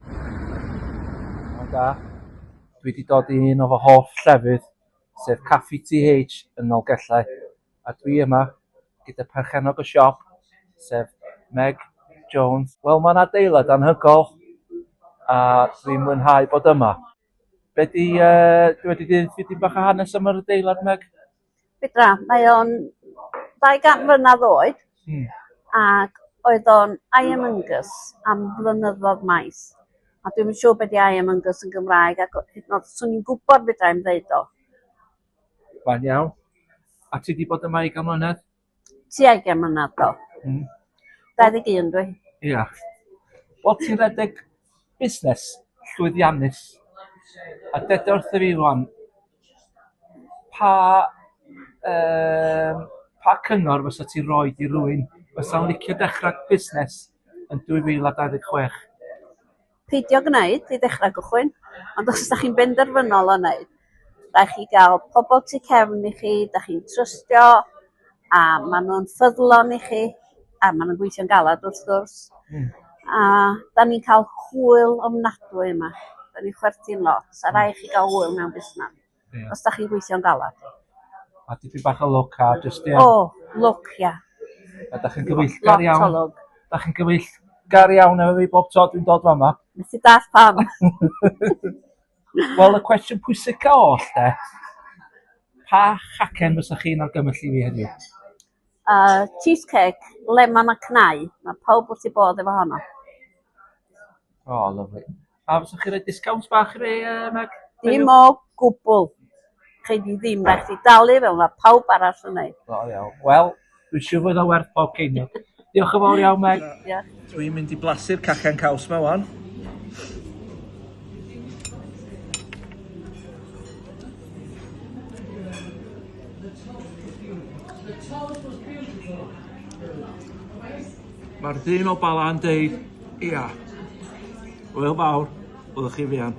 Hwyl da. Dwi 'di dod i un o fy hoff llefydd, sef Caffi TH yn Nolgellau, a dwi yma gyda perchennog y siop, sef Meg Jones. Wel mae'n adeilad anhygoel a dwi'n mwynhau bod yma. Be 'di yy dwi wedi deud dipyn bach o hanes am yr adeilad Meg? Fedra. Mae o'n ddau gant mlynadd oed. Hmm. Ac oedd o'n Iron Angus am flynyddodd maith. A dwi'm yn siŵr be' 'di Iron Angus yn Gymraeg ac o- hyd yn o'd swn i'n gwbod fedra i'm ddeud o. Mae'n iawn. A ti 'di bod yma ugain mlynedd? Tuag i mlynedd do. Hmm. 21 dwi. Ia. Wel ti'n redeg busnes llwyddiannus a deda wrtho fi rwan pa um, pa cyngor fysa ti roi i rywun fysa'n licio dechrau busnes yn 2026? peidio gwneud i ddechrau cychwyn ond os dach chi'n benderfynol o wneud rhaid chi gael pobl tu cefn i chi dach chi'n trystio a maen nhw'n ffyddlon i chi a maen nhw'n gweithio'n galed wrth gwrs hmm. a da ni'n cael hwyl ofnadwy yma da ni'n chwerthin lot a rhaid chi gael hwyl mewn busnes Ie. Os 'dach chi'n gweithio'n galad. A dipyn bach o lwc a jyst ie. O, lwc ia. A 'dach chi'n gyfeillgar iawn. Lot o lwc. 'Dach chi'n gyfeillgar iawn efo fi bob tro dwi'n dod fama. Nes i dall pam. Wel y cwestiwn pwysica oll de. Pa chacen fysa chi'n argymell i fi heddiw? A cheese cake lemon a cnau. Mae pawb wrth ei bodd efo honno. O, oh, lyflu. A fyswch chi roi disgawnt bach i fi, uh, Meg? Dim o gwbl. Chi di ddim rhaid i dalu fel mae pawb arall yn ei. O, iawn. Wel, dwi'n siŵr fod o werth pob ceiniog. Diolch yn fawr iawn, Meg. Ia. Dwi'n mynd i blasu'r cacen caws ma wan. Mae'r dyn o Bala'n deud, ia, wel fawr, oedd chi fian.